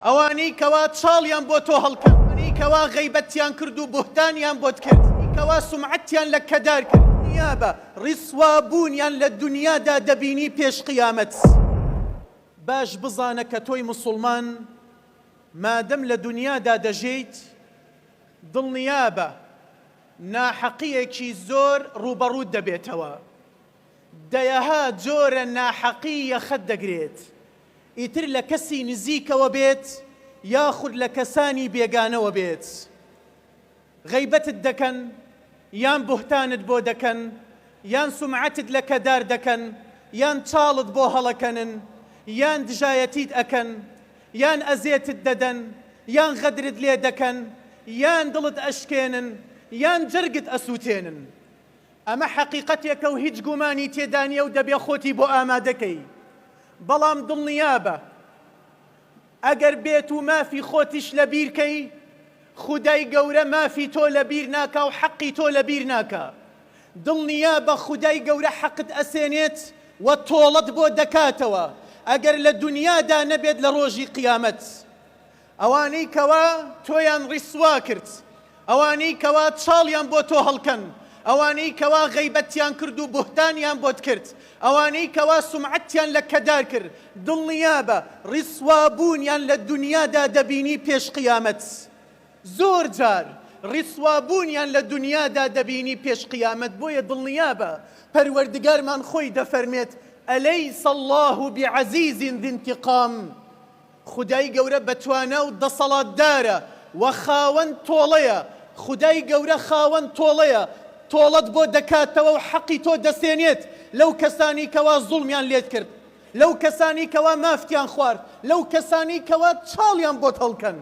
ئەوانەی کەوا چاڵیان بۆ تۆ هەڵکرد، ئەوانەی کەوا غەیبەتتیان کرد و بوهتانیان بۆت کرد، ئەوانەی کەوا سومعەتتیان لەکەدار کرد، دنیابە ڕیسوا بوونیان لە دنیادا دەبینی پێش قیامەت، باش بزانە کە تۆی موسوڵمان مادەم لە دنیادا دەژێیت دڵنیابە ناحەقیەکی زۆر ڕووبەڕووت دەبێتەوە. دەیەها جۆرە ناحەقی یەخەت دەگرێت، ئیتر لە کەسی نزیکەوە بێت یاخود لە کەسانی بێگانەوە بێت. غەیبەتت دەکەن، یان بوهتانت بۆ دەکەن، یان سومعەتت لەکەدار دەکەن، یان چاڵت بۆ هەڵەکەنن، یان دژایەتیت ئەکەن، یان ئەزێتت دەدەن، یان غەدرت لێ دەکەن، یان دڵت ئەشکێنن، یان جەرگت ئەسوتێنن. ئەمە حەقیقەتێکە و هیچ گومانی تێدا نییە و دەبێ خۆتی بۆ ئامادە کەی. بەڵام دڵنیابە ئەگەر بێت و مافی خۆتیش لە بیر کەی، خودای گەورە مافی تۆ لە بیر ناکا و حەقی تۆ لە بیر ناکا. دڵنیابە خودای گەورە حەقت ئەسێنێت و تۆڵەت بۆ دەکاتەوە، ئەگەر لە دونیادا نەبێت لە ڕۆژی قیامەت. ئەوانەی کەوا تۆیان ڕیسوا کرد، ئەوانەی کەوا چاڵیان بۆ تۆ هەڵکەن، ئەوانەی کەوا غەیبەتیان کرد و بوهتانیان بۆت کرد، ئەوانەی کەوا سومعەتیان لەکەدار کرد، دڵنیابە ڕیسوابوونیان لە دونیادا دەبینی پێش قیامەت. زۆر جار ڕیسوابوونیان لە دونیادا دەبینی پێش قیامەت، بۆیە دڵنیابە پەروەردگارمان خۆی دەفەرمێت، الیس اللە بعزیز ذی انتقام، خودای گەورە بەتوانا و دەسەڵاتدارە و خاوەن تۆڵەیە، خودای گەورە خاوەن تۆڵەیە، تۆڵەت بۆ دەکاتەوە و حەقی تۆ دەسێنێت لەو کەسانەی کەوا زوڵمیان لێت کرد، لەو کەسانەی کەوا مافتیان خوارد، لەو کەسانەی کەوا چاڵیان بۆت هەڵکەند.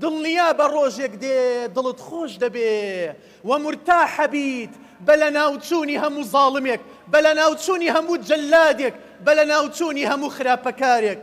دڵنیابە ڕۆژێک دێ دڵت خۆش دەبێ و مورتاح ئەبیت بە لەناوچوونی هەموو زاڵمێک، بە لەناوچوونی هەموو جەللادێک، بە لەناوچوونی هەموو خراپەکارێک.